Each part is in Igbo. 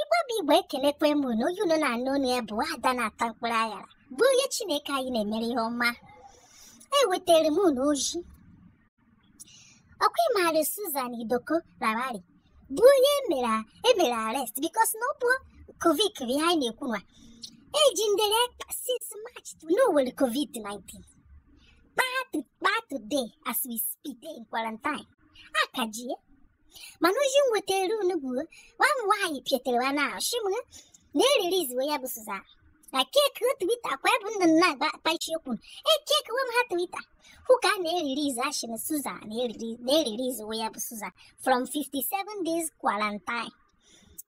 igbo bụ igbo ekelekwe m na onye unu na-anụ olu ya bụ ada na-ata mkpụrụ aghara bụ onye chineke anyị na-emere ihe ọma ewetara m unu ozi ọkwa ịmaara Susan Idoko Lawani bụ onye emere arrest because na ọ bụ covid bụ ihe anyị na-ekwu nwa ejindere since March na o nwere covid-19 kpaa to kpaa today as we speak in quarantine a ka ji ya mana ozi m wetara unu bụ nwa nwaanyị pịatere ya n'ahụ si m na e release-we ya bụ Susan e check-iwe twitter kwa bụ nna nna agba akpachi okwu e check-iwe m ha twitter hụ ka a na-release a sị na Susan na e release-we ya bụ Susan from 57 days quarantine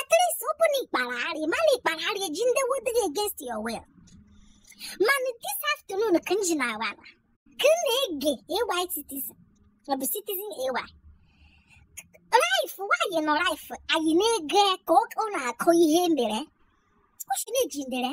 At least open ikparari, mana ikparari ejindewo gị against your will. Mana this afternoon ka m ji na awa na ka m na-ege AY citizen ọ bụ citizen AY. Live nwaanyị nọ live anyị na-ege ka ọ ọ na-akọ ihe mere. Ọ sị na ejindere.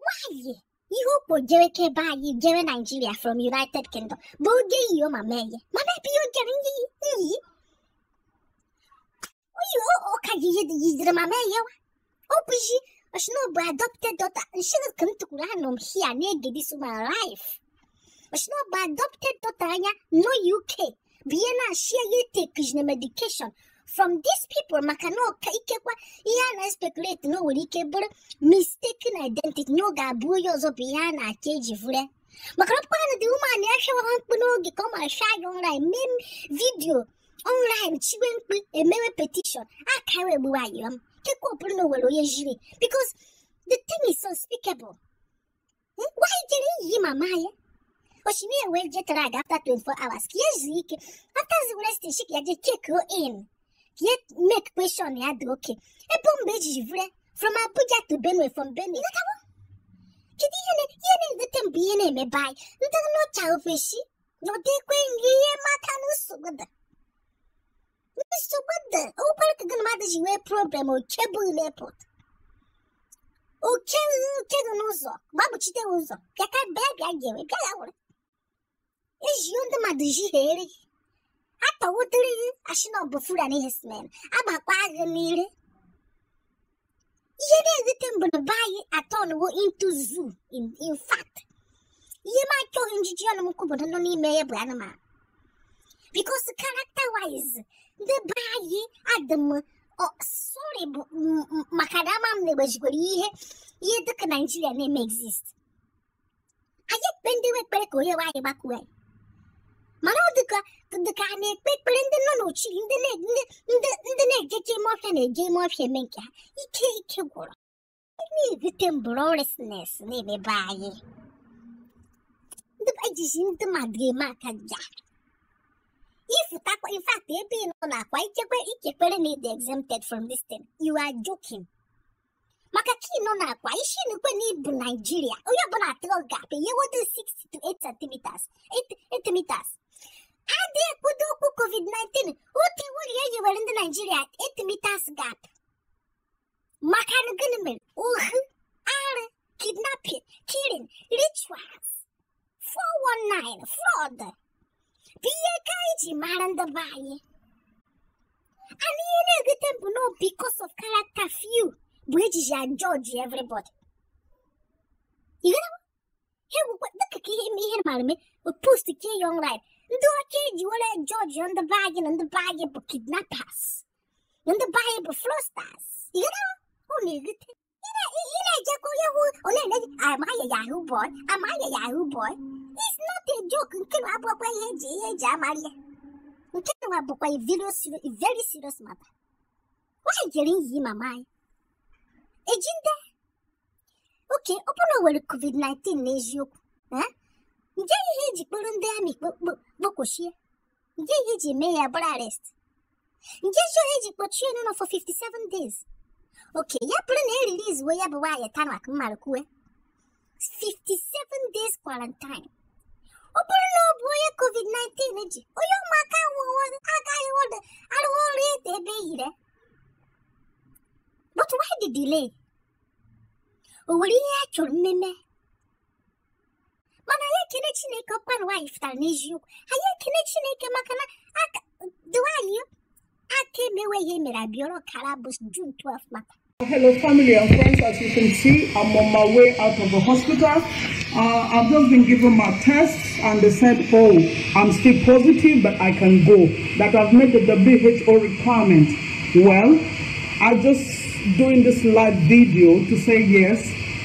nwaanyị ihe okpo jere be anyị jere naijiria from united kingdom bụ o je iyi mama ya mana ebe ihe o jere ndị iyi oyi ụka ji ihe yiziri mama ya ọ bụzi ọ sị na ọ bụ adopted daughter m sịrị ka m tukwuru anọ m hia na-ege this my live ọ sị na ọ bụ adopted daughter ya nọ uk bịa na-asị ya take-ina medication from these people maka na ọka ikekwa ihe a na-especulate na o nwere ike bụrụ mistaken identity na ọ ga-abụ onye ọzọ bụ ihe a ka eji vuru maka na ọ bụkwa na the woman ya hịawa ha mkpu n'oge ka ọ mara hịa ya online eme video online chiwe mkpu emewe petition akara egbuwe ya ikekwa ọ bụrụ na o nwere onye jiri because the thing is unspeakable nwaanyị jere iyi mama ya ọ sị na ya nwere jet lag after 24 hours ka ya zuo ike after the rest sị ka ya je check in ka ya make sure na ya dị okay ọ bụ mgbe e jiri vuru from abuja to benue from benue ịghọtawo kedu ihe na ihe na-ewute m bụ ihe na-eme be anyị ndị nọcha ofesi na ọ dịkwe nri ihe maka na nsogbu dị Mr. Wanda, ọ bụrụ ka gị na mmadụ ji nwee problem oke bụ airport. O chee gị n'ụzọ, gbagbuchite gị ụzọ, bịa ka bịa bịa ga-enwe, bịa ya were. Ezie ndị mmadụ ji ha eri gị. Atọwụdịrị gị a sị na ọ bụ Fulani herdsmen, agbakwa gị n'ire. ihe na-ewute m bụ na be anyị a-turn-wo into zoo in fact ihe m achọghị njiji ọnụ m kwu bụ ndị nọ n'ime ya bụ anụmanụ because character wise ndị be anyị adị m sorry bụ maka na ama m na-egbejikwere ihe ihe dịka naijiria na-eme exist anyị ekpe ndị nwe ekpere ka onye nwe anyị gbakwuo anyị mana ọ dịka dịka a na-ekpe ekpere ndị nọ n'ochi ndị na- ndị- ndị ndị na-ejeje ime ọfịa na-eje ime ọfịa eme nke ha ike ike gwụrụ na-ebute bụ lawlessness n'ime be anyị ndị be anyị jizi ndị mmadụ eme akaja ị fụtakwa in fact ebe ị nọ n'akwa ị chekwa equally na ịdị exempted from this thing you are joking maka ka ị nọ n'akwa isi n'ukwe na ịbụ naijiria onye ọbụla atụrụ gap enyewodo 6 to 8 centimeters 8 meters adị ekwudo okwu covid-19 otu iwu na ya yiwere ndị naijiria 8 meters gap maka gunmen ohu arụ kidnapping killing rituals 419 fraud bụ ihe ka eji mara ndị be anyị and ihe na-ewute m bụ na because of character few bụ ejiji a judge everybody ịghọtawo ha gwekwa dịka ka ihe ihe mara me post ke young life ndị ọcha eji were judge ndị be anyị na ndị be anyị bụ kidnappers na ndị be anyị bụ fraudsters ịghọtawo ọ na-ewute Ị na-ejekọ onye hụ onye na-eji am I a Yahoo boy am I a Yahoo boy it's not a joke nke na abụkwa ihe eji ihe eji amara ya nke na bụkwa a very serious- a very serious matter nwaanyị jere ili mama ya ejide okay ọ bụrụ na o nwere covid-19 n'eziokwu eh? nje ihe eji kpọrọ ndị army kpokwochie nje ihe eji mee ya bụrụ arrest nje ihe eji kpọchie n'ụlọ for 57 days okay ya bụrụ na e release we ya bụ nwaanyị tanak mmadụ kwue 57 days quarantine ọ bụrụ na ọ bụ onye covid-19 ji onye ụmụaka agaghị arụwa ọrụ ete ebe yire but why the delay o nwere ihe a chọrọ ime mana anyị ekele chineke ọkpara nwaanyị fụtara n'eziokwu anyị ekele chineke maka na aka nwaanyị aka emewe ihe mere Abiola kara bụ June 12 maka Hello, family and friends. As you can see, I'm on my way out of the hospital. Uh, I've just been given my tests, and they said, "Oh, I'm still positive, but I can go. That I've met the WHO requirement." Well, I just doing this live video to say yes.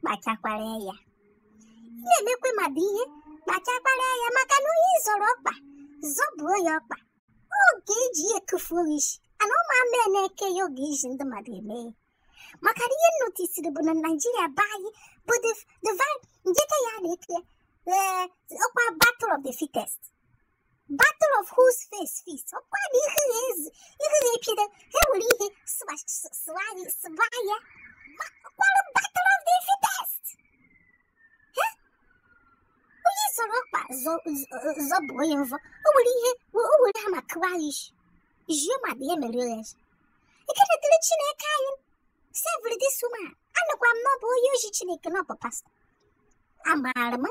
kpachakwara anya nna emekwe mmadụ ihe kpachakwara anya maka na onye zọrọ ọkpa zọbuo ya ọkpa oge eji ihe etufuo isi ana ụmụ amae na-eke ya oge eji ndị mmadụ eme ya maka na ihe nnotisiri bụ na naijiria be anyị bụ the the vi- njeke ya na-eke ya ee ọkwa battle of the fittest battle of whose face feast ọkwa na ihe na-ezi ihe na-epido ha were ihe sụwa s- sụwa anyị sụwa ya Ma- ọkwara battle of the fittest Eh? onye zọrọ ọkpa zọ- zọ- zọbụ onye mvọ o were ihe o were ha ma kụwa ya isi jie ma dị ya mere ya isi ekele dịrị chineke anyị saviri this woman anụkwa m na ọ bụ onye ozi chineke na ọ bụ pastor a maara ama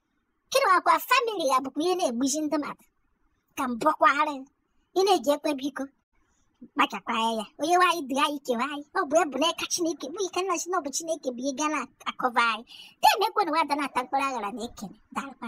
kịrị akwa family ya bụkwa ihe na-egbuzi ndị mmadụ ka m bụkwara ị na-eji ekwe biko kpachakwa anya ya onye nwe anyị dị anyị kewa anyị ọ bụ ebu n'aka chineke bụ ike nna si na ọ bụ chineke bụ ihe ga na-akọva anyị na-emekwa na nwa ada na-ata mkpụrụ aghara na-ekene dalụkwa